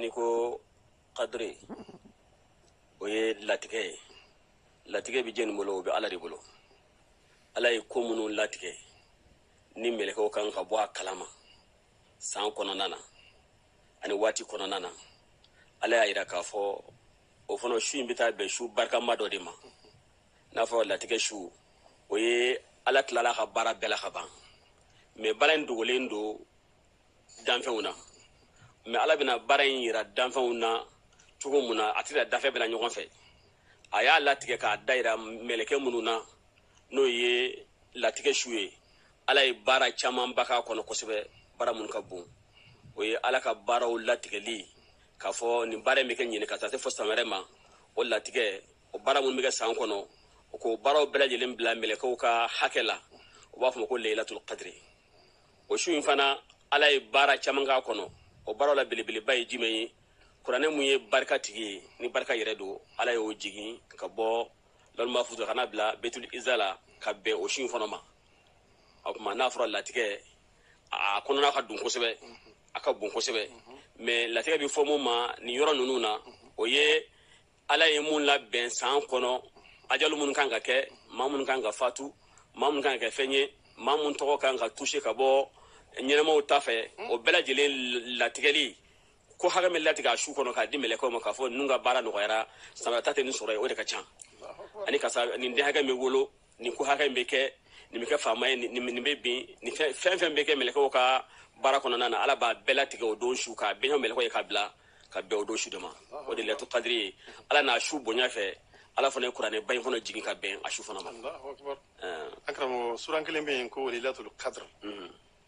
n'i ko kadiri o ye latigɛ ye latigɛ bɛ jɛni bolo o bɛ ala de bolo ala ye ko minnu latigɛ ni mɛlɛkɛw kan ka bɔ a kalama san kɔnɔna na ani waati kɔnɔna na ala y'a yira k'a fɔ o fana su in bɛ taa bɛn su barikama dɔ de ma n'a fɔ latigɛ su o ye ala tilala ka baara bɛɛ la ka ban mɛ baara in dogolen don danfɛnw na mɛ ala bɛna baara in yira danfɛnw na cogo mun na a t'a yira danfɛn bɛɛ na ɲɔgɔn fɛ a y'a latigɛ k'a da yira mɛlɛkɛ minnu na n'o ye latigɛ su ye ala ye baara camanba k'a kɔnɔ kosɛbɛ baara minnu ka bon o ye ala ka baaraw latigɛli k'a fɔ nin baara in bɛ kɛ ɲinan ka taa se fo san wɛrɛ ma o latigɛ o baara minnu bɛ kɛ san kɔnɔ o ko baaraw bɛɛ lajɛlen bila mɛlɛkɛw ka hakɛ la u b'a fɔ o ma ko leyilatul kadiri o su in fana ala ye baara caman k'a kɔnɔ o baaraw la belebeleba ye jumɛn ye kuranɛ mun ye barika tigi ye ni barika yɛrɛ don ala y'o jigin ka bɔ lawuhul mafuz ka n'a bila betul iza la ka bɛn o su in fana ma o kuma n'a fɔra latigɛ a kɔnɔna ka dun kosɛbɛ a ka bon kosɛbɛ mɛ latigɛ bɛ fɔ mun ma nin yɔrɔ ninnu na o ye ala ye mun labɛn san kɔnɔ ajalu minnu kan ka kɛ maa minnu kan ka fatu maa minnu kan ka kɛ fɛn ye maa minnu tɔgɔ kan ka tuse ka bɔ ɲɛnamaw ta fɛ o bɛɛ lajɛlen latigɛli k'o hakɛ min latigɛ a su kɔnɔ k'a di mɛlɛkɛw ma k'a fɔ ninnu ka baara nɔgɔyara samara ta tɛ nin sɔrɔ ye o de ka ca ani karisa nin den hakɛ min wolo nin ko hakɛ min bɛ kɛ nin bɛ kɛ faama ye nin bɛ bin nin fɛn fɛn bɛ kɛ mɛlɛkɛw ka baara kɔnɔna na ala b'a bɛɛ latigɛ o don su k'a bɛn mɛlɛkɛw ye k'a bila ka bɛn o don su de ma o de leyilatul kadiri ye ala n'a su bonya fɛ ala fana ye kuranɛ ba in fana jigin ka bɛn a su fana ma an karamɔgɔ suran kelen bɛ yen ko leyilatul kadiri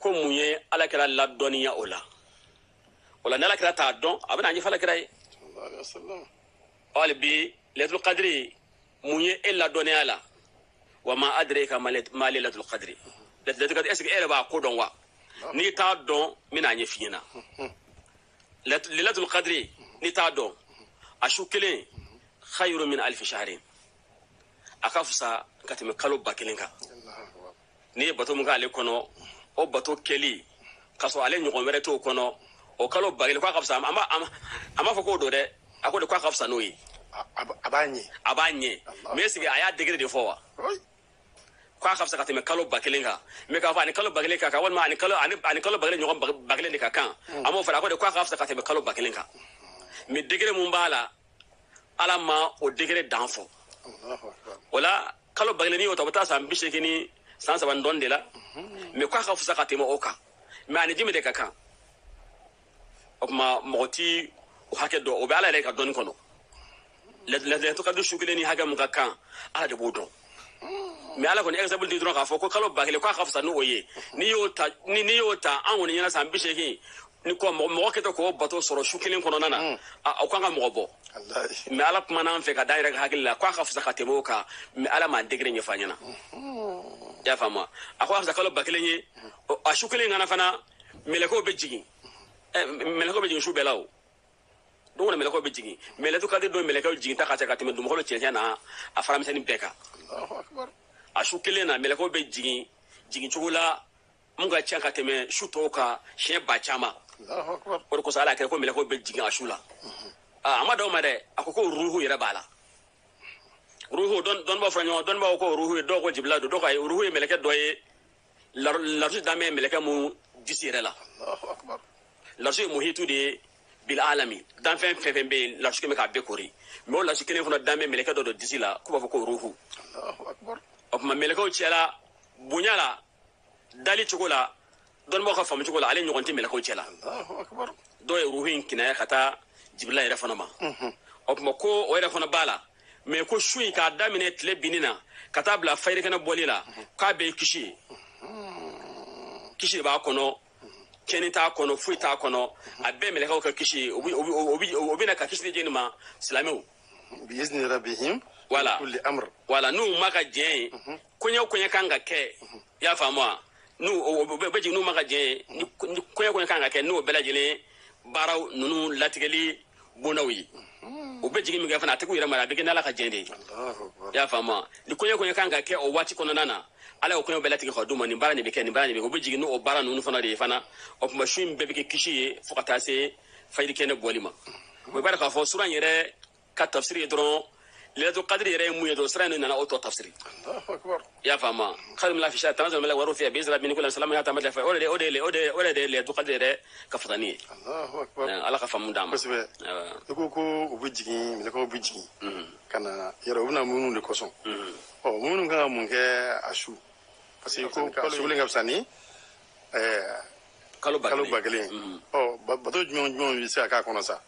ko mun ye ala kira ladɔnniya o la o la ni ala kira t'a dɔn a bɛna a ɲɛfɔ ala kira ye hali bi leyilatul kadiri mun ye e ladɔnniya la wa ma adiraka ma leyilatul kadiri leyilatul kadiri ɛseke e yɛrɛ b'a ko dɔn wa n'i t'a dɔn n bɛna a ɲɛf'i ɲɛna leyilatul kadiri n'i t'a dɔn a su kelen khayru min alfi shahrin a ka fisa ka tɛmɛ kalo ba kelen kan n'i ye bato min k'ale kɔnɔ o bato kɛli k'a sɔrɔ ale ɲɔgɔn wɛrɛ t'o kɔnɔ o kalo ba kelen k'a ka fisa a m'a a m'a- a m'a fɔ k'o don dɛ a ko de k'a ka fisa n'o ye A- a b- a b'a ɲɛ a b'a ɲɛ mɛ est ce que a y'a degere de fɔ wa Oi. k'a ka fisa ka tɛmɛ kalo ba kelen kan mɛ k'a fɔ ani kalo ba kelen ka kan walima ani kalo ani ani kalo ba kelen ɲɔgɔn ba- ba kelen de ka kan a m'o fɔ a ko de k'a ka fisa ka tɛmɛ kalo ba kelen kan mɛ degere mun b'a la ala ma o degere dan fɔ Allahu akbar. o la kalo ba kelen n'i y'o ta o bɛ taa san bi seegin ni san saba ni dɔɔni de la mais k'a ka fisa ka tɛmɛ o kan mais a ni jumɛn de ka kan o tuma mɔgɔ t'o hakɛ dɔn o bɛ ala yɛrɛ ka dɔnni kɔnɔ layilatu kadiri su kelen ni hakɛ min ka kan ala de b'o dɔn mais ala kɔni exemple di dɔrɔn k'a fɔ ko kalo ba kelen k'a ka fisa n'o ye n'i y'o ta ni n'i y'o ta an kɔni ɲɛna san bi seegin ni ko mɔgɔ kɛtɔ k'o bato sɔrɔ su kelen kɔnɔna na mm. o kan ka mɔgɔ bɔ mais ala kumana an fɛ ka da yɛrɛ ka hakili la k'a ka fisa ka tɛmɛ o kan mais ala m'a degré ɲɛfɔ an ɲɛna mm-hmm. y'a faamu a ko a fisa kalo ba kelen ye mm-hmm. a su kelen kɔnɔ fana mɛlɛkɛw bɛ jigin mm-hmm. mɛlɛkɛw bɛ jigin su bɛɛ la o don kɔnɔ mɛlɛkɛw bɛ jigin mais lɛlɛtu kadiri don mɛlɛkɛw jiginta ka ca ka tɛmɛ dugukolo cɛncɛn n'a fara misɛnnin bɛɛ kan a su kelen na mɛlɛkɛw bɛ jigin jigin cogo la min ka ca ka tɛmɛ su tɔw kan siɲɛ ba caman o de kosɔn ala ko ko mɛlɛkɛw bɛ jigin a su la a ma dan o ma dɛ a ko ko ruhu yɛrɛ b'a la ruhu dɔnnibaaw fɔra ɲɔgɔn dɔnnibaaw ko ruhu ye dɔw ko jibirila don dɔw ko ruhu ye mɛlɛkɛ dɔ ye larusi dan bɛ mɛlɛkɛ min disi yɛrɛ la larusi ye muhitu de ye bil alami danfɛn fɛn fɛn bɛ yen larusi kɛmɛ k'a bɛɛ koori mais o larusi kelen fana dan bɛ mɛlɛkɛ dɔ disi la k'u b'a fɔ ko ruhu o tuma mɛlɛkɛw cɛla bonya la dali cogo la dɔnnibaaw ka faamu cogo la ale ɲɔgɔn tɛ mɛlɛkɛw cɛ la dɔw ye ruhu in kinaya ka taa jibirila yɛrɛ fana ma o tuma ko o yɛrɛ fana b'a la mais ko su in k'a daminɛ tile binni na ka taa bila fajiri kɛnɛ bɔli la k'a bɛɛ ye kisi ye kisi de b'a kɔnɔ tiɲɛni t'a kɔnɔ foyi t'a kɔnɔ a bɛɛ mɛlɛkɛw ka kisi ye o bi- o bi- o bi- u bɛ na ka kisi de di an ma silamɛw bi izni rabihim wala kulli amr wala n'u ma ka diɲɛ ye koɲɛ o koɲɛ kan ka kɛ i y'a faamu wa ninnu bɛɛ bɛ jigin n'u ma ka jɛn ni koɲɛ o koɲɛ kan ka kɛ n'o bɛɛ lajɛlen baaraw ninnu latigɛli bondaw ye u bɛ jigin min kɛ fana a tɛ k'u yɛrɛ mara a bɛ kɛ n'ala ka jɛn de ye i y'a faamu wa ni koɲɛ o koɲɛ kan ka kɛ o waati kɔnɔna na ala y'o koɲɛw bɛɛ latigɛ ka d'u ma nin baara nin bɛ kɛ nin baara nin bɛ kɛ u bɛ jigin n'o baara ninnu fana de ye fana o tuma su in bɛɛ bɛ kɛ kisi ye fo ka taa se fajiri kɛnɛ bɔli ma o b'a dɔn k'a fɔ sura in yɛrɛ ka tafsiri ye dɔrɔn lɛlɛto kadiri yɛrɛ ye mun ye dɔrɔn sura nin nana o tɔ tafsiri i y'a faamu kayirun min alfi shahri tanazalul mala waruhu fiha bi izni rabi min kulli salamun hiya hata matla fajri o de o de o de o de ye lɛlɛto kadiri yɛrɛ ka fisaya nin ye ala ka faamu d'an ma kosɛbɛ i ko ko u bɛ jigin mɛlɛkɛw bɛ jigin ka na yɛrɛ u bɛ na minnu de kosɔn ɔ minnu kan ka mun kɛ a su parce que ko su kelen ka fisa ni kalo ba kelen ɔ bato jumɛn jumɛn bɛ se ka k'a kɔnɔ sa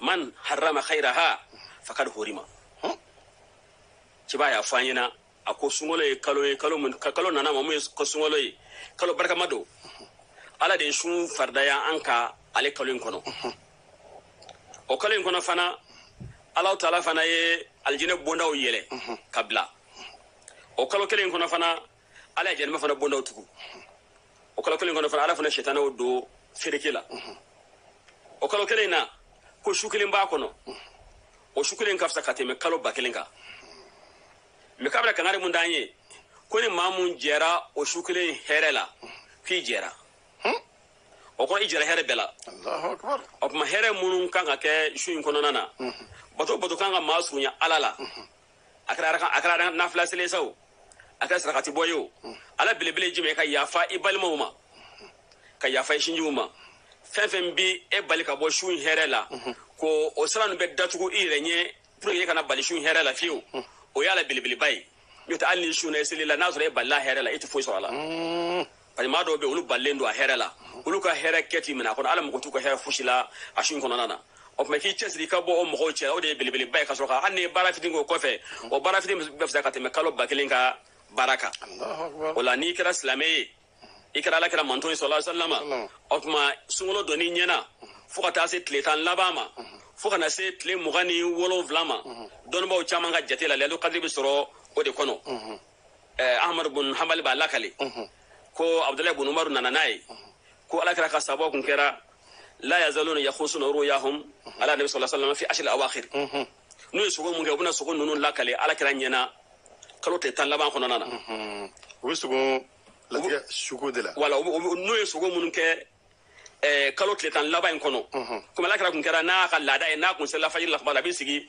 man harrama khairaha fakad horima cɛba y'a fɔ an ɲɛna a ko sunkalo ye kalo ye kalo mun ka kalo nana aw ma mun ye ko sunkalo ye kalo barikama don ala de ye sun faridaya an kan ale kalo in kɔnɔ o kalo in kɔnɔ fana alahu taala fana ye alijinɛ bondaw yɛlɛ ka bila o kalo kelen in kɔnɔ fana ala ye jahanama fana bondaw tugu o kalo kelen kɔnɔ fana ala fana sitanaw don fereke la o kalo kelen na ko su kelen b'a kɔnɔ o su kelen ka fisa ka tɛmɛ kalo ba kelen kan mɛ k'a bɛna kangari mun d'an ye ko ni maa mun jɛra o su kelen hɛrɛ la k'i jɛra hmm? o kɔrɔ i jɛra hɛrɛ bɛɛ la o tuma hɛrɛ minnu kan ka kɛ su in kɔnɔna na hmm. bato bato kan ka maa surunya ala la hmm. a kɛra a kɛra nafila seli ye sa o a kɛra sarakati bɔ ye o a la belebele ye jumɛn ka yafa i balimaw ma ka yafa i sinjiw ma fɛn fɛn bɛ e bali ka bɔ su in hɛrɛ la k'o sira ninnu bɛɛ datugu i yɛrɛ ɲɛ pour que e kana bali su in hɛrɛ la fiyewu o y'a la belebeleba ye n'o tɛ hali ni su na i selila n'a sɔrɔ e balila hɛrɛ la e tɛ foyi sɔrɔ a la Bari maa dɔw bɛ olu balilen don a hɛrɛ la olu ka hɛrɛ kɛ tɛ minɛ a kɔnɔ ala mako t'u ka hɛrɛ fosi la a su in kɔnɔna na o tuma k'i cɛ siri ka bɔ o mɔgɔw cɛ o de ye belebeleba ye ka sɔrɔ hali ni baara fitinin o kɔfɛ o baara fitinin bɛ fisa ka tɛmɛ kalo ba kelen ka baara kan o la n'i kɛra silamɛ ye i kɛra ala kira mantɔn ye sallallahu alaihi wasallam o tuma sunkalo donni ɲɛna fo ka taa se tile tan laban ma fo ka na se tile mugan ni wolonwula ma dɔnnibaaw caman ka jate la lɛlu kadiri bɛ sɔrɔ o de kɔnɔ eh, ahmadu bun hanbali b'a lakale ko abdulahi bun umaru nana n'a ye ko ala kira ka sabaw kun kɛra la yazaluna yakhusuna ruyahum ala nabi sallallahu alaihi wasallam fi ashril awakhir n'u ye sugo mun kɛ u bɛna sugo ninnu lakale ala kira ɲɛna kalo tile tan laban kɔnɔna na u bɛ sugo latigɛ sugo de la wala u bɛ- u bɛ- n'u ye sugo minnu kɛ eh, kalo tile tan laban in kɔnɔ komi ala kira kun kɛra n'a ka laada ye n'a kun selila fajiri la kuma la a bɛ sigi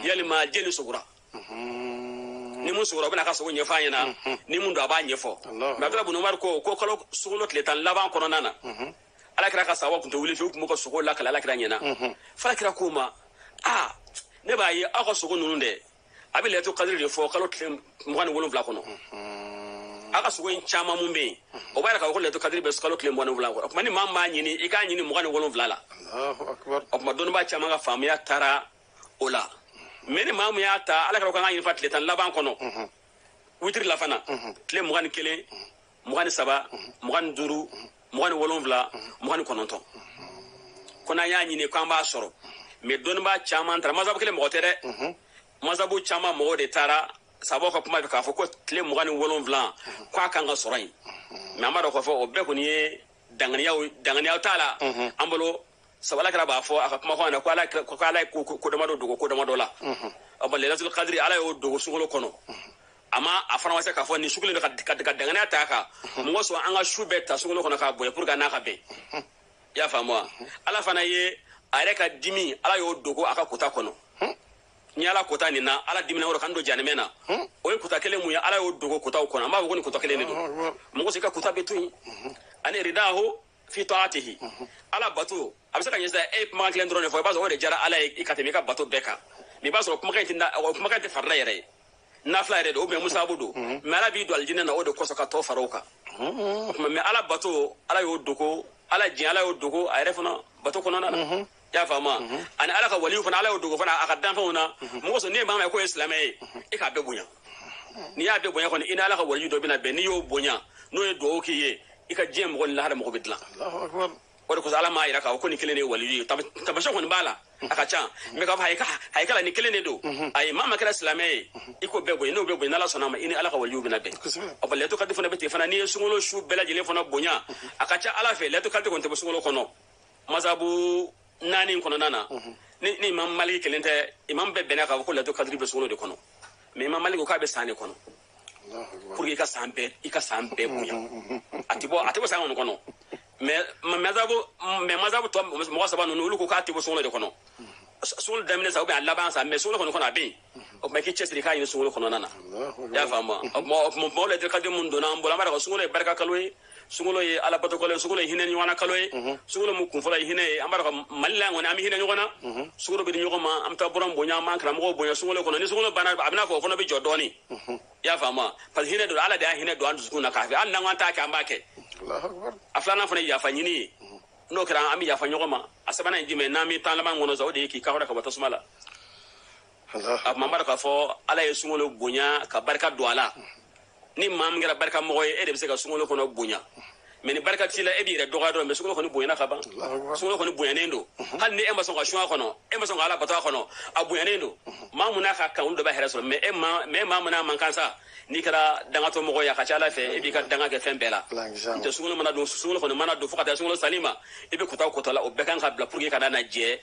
yali maa jɛni sugora ni mun sugora o bɛna a ka sugo ɲɛfɔ a ɲɛna ni mun don a b'a ɲɛfɔ Alahu mɛ abdulahi bun umaru ko ko kalo sunkalo tile tan laban kɔnɔna na ala kira ka sabaw tun tɛ wuli fiyewu u tun b'u ka sugo lakale ala kira ɲɛna f'ala kira k'u ma a ne b'a ye aw ka sugo ninnu dɛ a bɛ lɛto kadiri de fɔ kalo tile mugan ni wolonwula kɔnɔ aw ka sugo in caman mun bɛ yen o b'a yira k'a fɔ ko lɛto kadiri bɛ kalo tile mugan ni wolonwula kɔnɔ o tuma ni maa min b'a ɲini i k'a ɲini mugan ni wolonwula la Allahu akbar. o tuma dɔnnibaa caman ka faamuya taara o la mɛ ni maa min y'a ta a la a ka kan ka ɲini fo tile tan laban kɔnɔ witiri la fana tile mugan ni kelen mugan ni saba mugan ni duuru mugan ni wolonwula mugan ni kɔnɔntɔn ko n'an y'a ɲini k'an b'a sɔrɔ mɛ dɔnnibaa caman taara masabu kelen mɔgɔ tɛ dɛ masabu caman mɔgɔw de taara sabaw ka kuma fɛ k'a fɔ ko tile mugan ni wolonwula ko a kan ka sɔrɔ yen mɛ an b'a dɔn k'a fɔ o bɛɛ kɔni ye dankɛnɛya dankɛnɛya t'a la an bolo sabula kira b'a fɔ a ka kumakan na ko ala ko ala ye ko damadɔ dogo ko damadɔ la a ma lelatul kadiri ala y'o dogo sunkalo kɔnɔ a ma a fana ma se k'a fɔ nin su kelen ka danganiya t'a kan masɔrɔ an ka su bɛɛ ta sunkalo kɔnɔ k'a bonya pour que an n'a ka bɛn i y'a faamu wa ala fana ye a yɛrɛ ka dimi ala y'o dogo a ka kota kɔnɔ ni ala kota nin na ala dimina o yɛrɛ k'an don janimɛ na o ye kota kelen mun ye ala y'o dogo kotaw kɔnɔ a m'a fɔ ko nin kota kelen de don masɔrɔ ka kota bɛɛ to yen ani ridahu fi taatihi ala bato a bɛ se k'a ye sa e ye kumakan kelen dɔrɔn de fɔ i b'a sɔrɔ o de diyara ala ye ka tɛmɛ i ka bato bɛɛ kan mɛ i b'a sɔrɔ kumakan in tɛ na- o kumakan tɛ farila yɛrɛ ye nafila yɛrɛ don ubiyɛn musabu don mɛ ala b'i don alijinɛ na o de kosɔn ka tɔ fara o kan o tuma mɛ ala bato ala y'o dogo ala diɲɛ ala y'o dogo a yɛrɛ fana bato kɔnɔna na i y'a faamu ani ala ka waliw fana ala y'o dogo fana a ka danfɛnw na masɔrɔ n'i ye maa min ye k'o ye silamɛ ye e k'a bɛɛ bonya n'i y'a bɛɛ bonya kɔni i ni ala ka waliyu dɔ bɛna bɛn n'i y'o bonya n'o ye dugawu k'i ye i ka diɲɛ mako ni lahara mako bɛ dilan o de kosɔn ala m'a yira k'a fɔ ko nin kelen de ye waliyu ye Tama- taamasiyɛ kɔni b'a la a ka ca mɛ k'a fɔ ayi ka- ayi kala nin kelen de don ayi maa o maa kɛra silamɛ ye i k'o bɛɛ bonya n'o bɛɛ bonya n'ala sɔnna a ma i ni ala ka waliyu bɛna bɛn Kosɛbɛ. ɔ bɔn lelatul kadiri fana bɛ ten fana n'i ye sunkalo su bɛɛ lajɛlen fana bonya a ka ca ala fɛ lelatul kadiri kɔni tɛ bɔ sunkalo kɔnɔ masabu naani in kɔnɔna na ni ni imam maliki kelen tɛ imam bɛɛ bɛnna k'a fɔ ko lelatul kadiri bɛ sunkalo de kɔnɔ mais imam maliki ko k'a bɛ san de kɔnɔ pour que i ka san bɛɛ i ka san bɛɛ bonya a tɛ bɔ a tɛ bɔ san kɔni kɔnɔ mais ma- masabu mais masabu tɔ mɔgɔ saba ninnu olu ko k'a tɛ bɔ sunkalo de kɔnɔ sunkalo daminɛ sa ubiyɛn a laban sa mais sunkalo kɔni kɔnɔ a bɛ yen o tuma i k'i cɛsiri k'a ɲini sunkalo kɔnɔna na i y'a faamu wa o tuma o tuma mɔgɔw lelatul kadiri min donna an bolo an b'a dɔn ko sunkalo ye barika kalo ye sunkalo ye alabatokalo ye sunkalo ye hinɛ ɲɔgɔn na kalo ye mhm. sunkalo mu kunfɔlɔ ye hinɛ ye an b'a dɔn mali la kɔni an bɛ hinɛ ɲɔgɔn na mhm. sukaro bɛ di ɲɔgɔn ma an bɛ taa buranw bonya an b'an karamɔgɔw bonya sunkalo kɔnɔ ni sunkalo banna a b'i n'a fɔ o fana bɛ jɔ dɔɔni mhm. i y'a faamu parce que hinɛ don ala de y'a hinɛ don an dusukun na k'a fɔ hali n'an k'an t'a kɛ an b'a kɛ a filanan fana ye yafa ɲini ye n'o kɛra an bɛ yafa ɲɔgɔn ma a sabanan ye jumɛn n'an bɛ tan laban kɔnɔ sa o de ye k'i kanhɔrɔnya ka bɔ tasuma la o tuma an b'a dɔn k'a fɔ ala ye sunkalo bonya ka barika don a la ni maa min kɛra barika mɔgɔ ye e de bɛ se ka sunkalo kɔni bonya mɛ ni barika t'i la e b'i yɛrɛ dɔgɔya dɔrɔn mɛ sunkalo kɔni bonyana ka ban sunkalo kɔni bonyanen don hali ni e ma sɔn ka sun a kɔnɔ e ma sɔn ka ala bato a kɔnɔ a bonyanen don maa mun n'a ka kan olu de b'a hɛrɛ sɔrɔ mɛ e ma mɛ maa mun n'a man kan sa n'i kɛra dangatɔ mɔgɔ ye a ka ca ala fɛ e b'i ka danga kɛ fɛn bɛɛ la n tɛ sunkalo mana don sunkalo kɔni mana don fo ka taa sunkalo seli ma i bɛ kota o kota la o bɛɛ ka kan ka bila pour que ka na na jɛ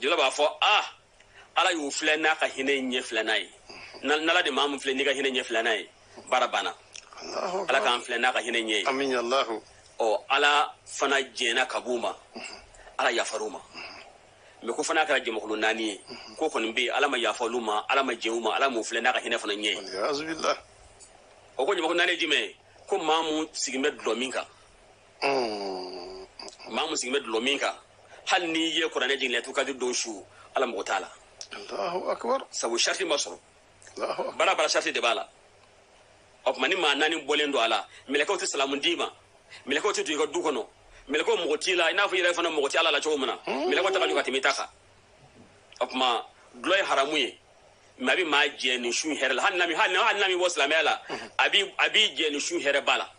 jibirili b'a fɔ a ala y'u filɛ n'a ka hinɛ ɲɛ filɛnan ye n'ala de maa min filɛ n'i ka hinɛ ɲɛ filɛnan ye baara banna ala k'an filɛ n'a ka hinɛ ɲɛ ye ɔ ala fana jɛnna ka b'u ma ala yafar'u ma mɛ ko fo n'a kɛra jamakulu naani ye k'o kɔni bɛɛ ala ma yafa olu ma ala ma jɛn u ma ala m'u filɛ n'a ka hinɛ fana ɲɛ ye o ko jamakulu naani ye jumɛn ye ko maa mun sigilen bɛ dɔlɔmin kan maa min sigilen bɛ dulɔ min kan hali n'i ye kuranɛ jigin lailatul qadri don su ala mago t'a la sabu sariti ma sɔrɔ baara baara sariti de b'a la o tuma nin maa naani bɔlen don a la mɛlɛkɛw tɛ salamu d'i ma mɛlɛkɛw tɛ don i ka du kɔnɔ mɛlɛkɛw mago t'i la i n'a fɔ i yɛrɛ fana mago tɛ ala la cogo min na mɛlɛkɛw ta ka jugu ka tɛmɛ i ta kan o tuma dulɔ ye haramu ye mɛ a bɛ maa jɛ nin su hɛrɛ la hali n'a m'i hali hali n'a m'i bɔ silamɛya la a b'i a b'i jɛ nin su hɛrɛ ba la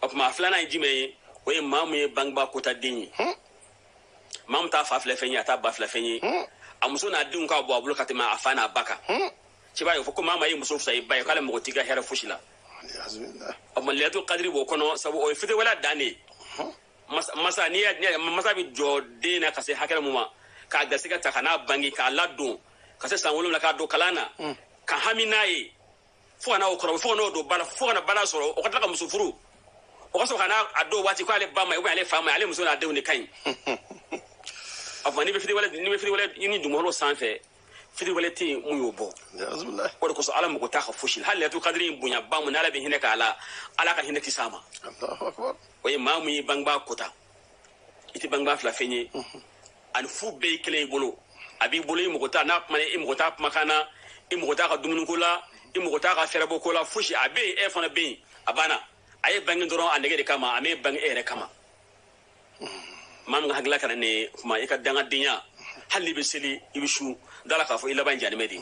o tuma a filanan ye jumɛn ye o ye maa min ye bangebaa kota den ye maa min t'a fa filɛ fɛn ye a t'a ba filɛ fɛn ye a muso n'a denw ka bon a bolo ka tɛmɛ a fa n'a ba kan ci b'a ye fɔ ko maa min ye muso fisa i ba ye k'ale mago t'i ka hɛrɛ fosi la o tuma lailatul qadri b'o kɔnɔ sabu o ye fitiriwale dan de ye masa n'i y'a masa bɛ jɔ den na ka se hakɛ mun ma k'a garisɛgɛ ta ka n'a bange k'a ladon ka se san wolonwula k'a don kalan na mm. ka hami n'a ye fo ka na o kɔrɔ fo ka n'o don baara la fo ka na baara sɔrɔ o ka tila ka muso furu o ka sɔrɔ ka na a dɔn waati k'ale ba ma ale fa ma ale muso n'a denw de ka ɲi a fɔ n'i bɛ fitiriwale n'i bɛ fitiriwale ɲini dugukolo sanfɛ fitiriwale tɛ yen mun y'o bɔ o de kosɔn ala mago t'a ka fosi la hali lailatul qadri in bonya ba mun ni ala bɛ hinɛ k'a la ala ka hinɛ ti s'a ma o ye maa mun ye bangebaa kota i tɛ bangebaa filɛ fɛn ye a ni fu bɛɛ ye kelen i bolo a b'i bolo i mago t'a n'a kuma i mago t'a kumakan na i mago t'a ka dumuniko la i mago t'a ka fɛɛrɛbɔ ko la fosi a bɛ yen e fana bɛ yen a banna a y'e bange dɔrɔn a nege de kama a m'e bange e yɛrɛ kama maa min ka hakilila kana ne kuma i ka dangadenya hali n'i bɛ seli i bɛ sun da a la k'a fɔ i laban in janimɛ de ye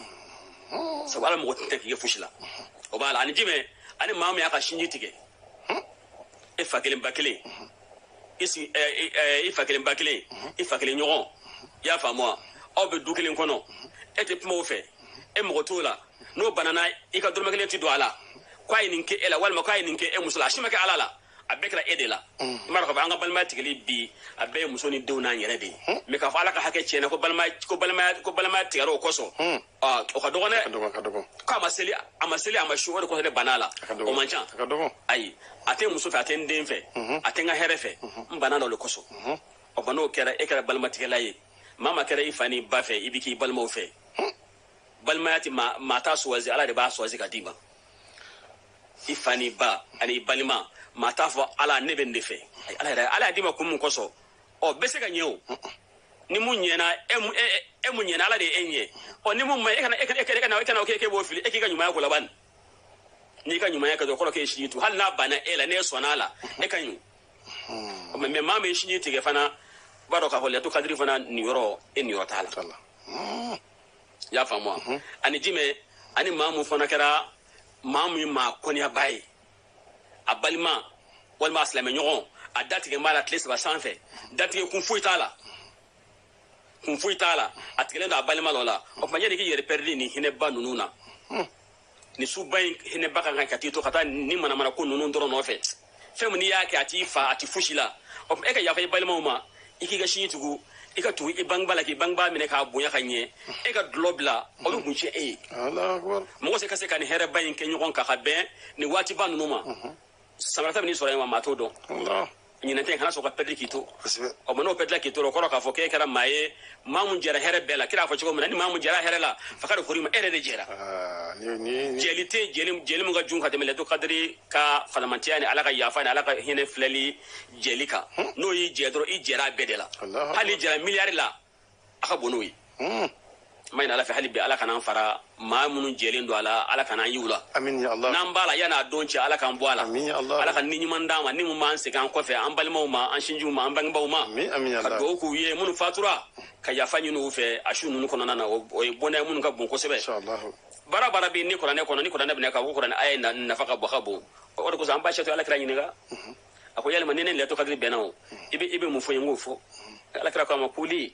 sabu ala mago tɛ k'i kɛ fosi la o b'a la ani jumɛn ani maa min y'a ka sinji tigɛ e fa kelen ba kelen i sigi ɛ i ɛ i fa kelen ba kelen i fa kelen ɲɔgɔn i y'a faamu wa aw bɛ du kelen kɔnɔ e tɛ kuma o fɛ e mago t'o la n'o banana i ka dɔrɔmɛ kelen tɛ don a la k'a ye nin kɛ e la walima k'a ye nin kɛ e muso la a si ma kɛ ala la a bɛɛ kɛra e de la n b'a dɔn k'a fɔ an ka balimaya tigɛli bi a bɛɛ ye muso ni denw n'an yɛrɛ de ye mɛ k'a fɔ ala ka hakɛ tiɲɛna ko balimaya ko balimaya ko balimaya tigɛra o kosɔn aa, o ka dɔgɔn ka dɛ dɔgɔ ka dɔgɔ k'a ma seli a ma seli a ma sun o de kosɔn ne banna a la ka dɔgɔ o man ca a ka dɔgɔ ayi a tɛ n muso fɛ a tɛ n den fɛ a tɛ n ka hɛrɛ fɛ n banna o de kosɔn o ba n'o kɛra e kɛra balimatigɛla ye maa min kɛra i fa n'i ba fɛ i bɛ k'i balimaw fɛ balimaya tɛ maa maa t'a suwazi ala de b'a suwazi ka d'i ma i fa n'i ba ani i balima maa t'a fɔ ala ne bɛ nin de fɛ ala yɛrɛ ala y'a d'i ma kun mun kosɔn ɔ bɛ se ka ɲɛ o ni mun ɲɛna e mun e, e, e mun ɲɛna ala de ye e ɲɛ ɔ ni mun ma e kana e kana e kana e kana o kɛ k'e b'o fili e k'i ka ɲumanya k'o la ban n'i ka ɲumanya kɛ dɔrɔn kɔrɔ k'e sinji tugu hali n'a banna e la n'e sɔnna a la e ka ɲi o mɛ maa min sinji tigɛ fana b'a dɔn k'a fɔ lailatul qadri fana niyɔrɔ e niyɔrɔ t'a la i y'a faamu wa ani jumɛn ani maa mun fana kɛra maa min maa kɔniyaba ye a balima walima a silamɛɲɔgɔn a datigɛ b'a la tile saba sanfɛ datigɛ kun foyi t'a la kun foyi t'a la a tigɛlen don a balima dɔ la o tuma yanni k'i yɛrɛ pɛridi nin hinɛba ninnu na nin suba in hinɛba kan ka t'i to ka taa nin manamana ko ninnu dɔrɔn nɔfɛ fɛn min n'i y'a kɛ a t'i fa a t'i fosi la o tuma e ka yafa i balimaw ma i k'i ka sinji tugu i ka tugu i bangebaa la k'i bangebaa minɛ k'a bonya ka ɲɛ e ka dulɔ bila o bɛ kun tiɲɛ e ye mɔgɔ se ka se ka nin hɛrɛba in kɛ ɲɔgɔn kan ka bɛn nin waatiba ninnu ma san wɛrɛ ta bɛn'i sɔrɔ yen wa maa t'o dɔn ɲinɛn ta kana sɔn ka pɛridi k'i to o ma n'o pɛridila k'i to o kɔrɔ k'a fɔ k'e kɛra maa ye maa mun jɛra hɛrɛ bɛɛ la kira y'a fɔ cogo min na ni maa mun jɛra hɛrɛ la faqad hurima e yɛrɛ de jɛra Ah, ni ni ni- jɛli tɛ yen, jɛli jɛli min ka jugu ka tɛmɛ lailatul qadri ka fisamantiya ni ala ka yafa ni ala ka hinɛ filɛli jɛli kan n'o y'i jɛ dɔrɔn i jɛra a bɛɛ de la Alahu hali n'i jɛra miliyari la a ka bon n'o ye Hmm. m'a ɲini ala fɛ hali bi ala kana an fara maa minnu jɛlen don a la ala kana an y'u la n'an b'a la yann'a don cɛ ala k'an bɔ a la ala ka ni ɲuman d'an ma ni mun b'an segin an kɔfɛ an balimaw ma an sinjiw ma an bangebaaw ma ka dugawu k'u ye minnu fatura ka yafa ɲini u fɛ a su ninnu kɔnɔna na o ye bɔnɛ minnu ka bon kosɛbɛ baara baara bɛ ni kuranɛ kɔnɔ ni kuranɛ bɛna ka ko kuranɛ aya nafa ka bɔ ka bon o de kosɔn an ba Sɛtu ala kira ɲininka mhm. a ko yalima ni ne lailatul qadri bɛnna o mhm. i bɛ mun fɔ n ye n k'o fɔ mhm. ala kira k'a ma quli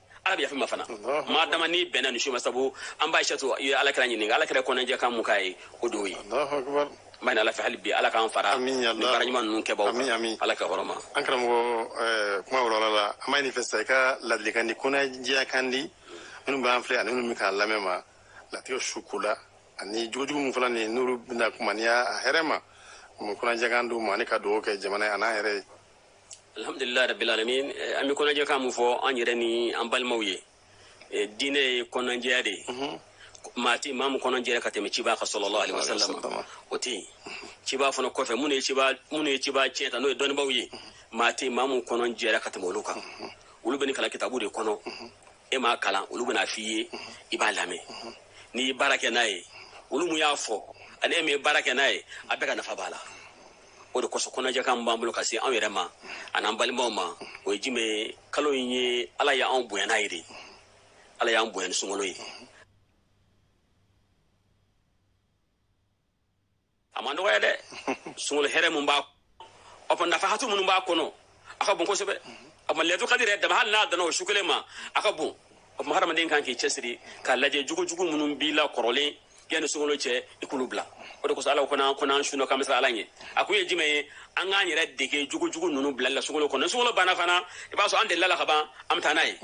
ala bɛ yaf'i ma fana maa dama n'i bɛnna nin su ma sabu an ba Satu ye ala kira ɲininka ala kira kɔnɔjɛ kan mun k'a ye o de ye m'a ɲini ala fɛ hali bi ala k'an fara ni baara ɲuman ninnu kɛbaw ala ka hɔrɔma an karamɔgɔ eh, kuma wɔrɔla la an b'a ɲin'i fɛ sa i ka ladilikan di kɔnɔjɛya kan di minnu b'an filɛ ani minnu bɛ k'an lamɛn ma latigɛ su ko la ani jogojugu min fana nin n'olu bɛna kuma ni y'a hɛrɛ ma mun kɔnɔjɛkan d'u ma ani ka dugawu kɛ jamana ye an'an yɛrɛ ye alhamdulilayi rabil alamin eh, an bɛ kɔnɔjɛkan mun fɔ an yɛrɛ ni an balimaw ye eh, diinɛ ye kɔnɔjɛya de ye mhm. maa tɛ maa min kɔnɔjɛra ka tɛmɛ cibaa kan sallallahu alayhi wa sallam o tɛ yen cibaa fana kɔfɛ minnu ye cibaa minnu ye cibaa tiɲɛ ta n'o ye dɔnnibaaw ye mhm. maa tɛ maa min kɔnɔjɛra ka tɛmɛ olu kan mhm. olu bɛ nin kalan kitabu de kɔnɔ e m'a kalan olu bɛn'a f'i ye i b'a lamɛn n'i ye baara kɛ n'a ye olu mun y'a fɔ ani e min ye baara kɛ n'a ye a bɛɛ ka nafa b'a la o de kosɔn kɔnɔjɛkan min b'an bolo ka se anw yɛrɛ ma an'an balimaw ma o ye jumɛn ye kalo in ye ala ye anw bonya n'a ye de ala y'an bonya ni sunkalo ye a ma dɔgɔya dɛ sunkalo hɛrɛ min b'a o nafahatu minnu b'a kɔnɔ a ka bon kosɛbɛ a ma lailatul qadri yɛrɛ dama hali n'a danna o su kelen ma a ka bon o tuma hadamaden kan k'i cɛsiri k'a lajɛ jogojugu minnu b'i la kɔrɔlen yanni sunkalo cɛ i k'olu bila o de kosɔn ala ko n'an ko n'an sunna k'an bɛ siran ala ɲɛ a kun ye jumɛn ye an k'an yɛrɛ dege jogojugu ninnu bilali la sunkalo kɔnɔ ni sunkalo banna fana i b'a sɔrɔ an delil'a la ka ban an bɛ taa n'a ye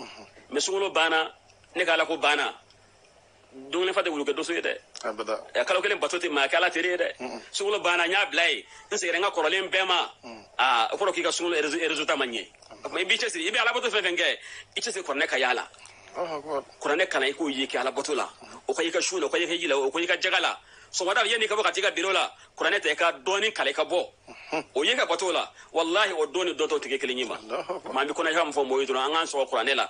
mɛ sunkalo banna ne ka ala ko banna dumuni fa tɛ wulu kɛ doso ye dɛ abada ɛ, kalo kelen bato tɛ maa kɛ ala teri ye dɛ sunkalo banna n y'a bila ye n seginna n ka kɔrɔlen bɛɛ ma aa o kɔrɔ k'i ka sunkalo résu- résultat ma ɲɛ o tuma i b'i cɛsiri i bɛ alabato fɛn fɛn kɛ i cɛsiri kuranɛ ka y'a la Allahu akbar. kuranɛ kalan i k'o ye kɛ alabato la o ka i ka su la o ka i ka hiji la o ka i ka jaga la sɔgɔmada yanni i ka bɔ ka t'i ka biro la kuranɛ ta i ka dɔɔni kalan i ka bɔ o ye ka bato la walahi o don ni dɔn tɔw tɛ kɛ kelen ye ma Allahu akbar. maa bɛ kɔnɔja min fɔ mɔgɔw ye dɔrɔn an k'an sɔgɔ kuranɛ la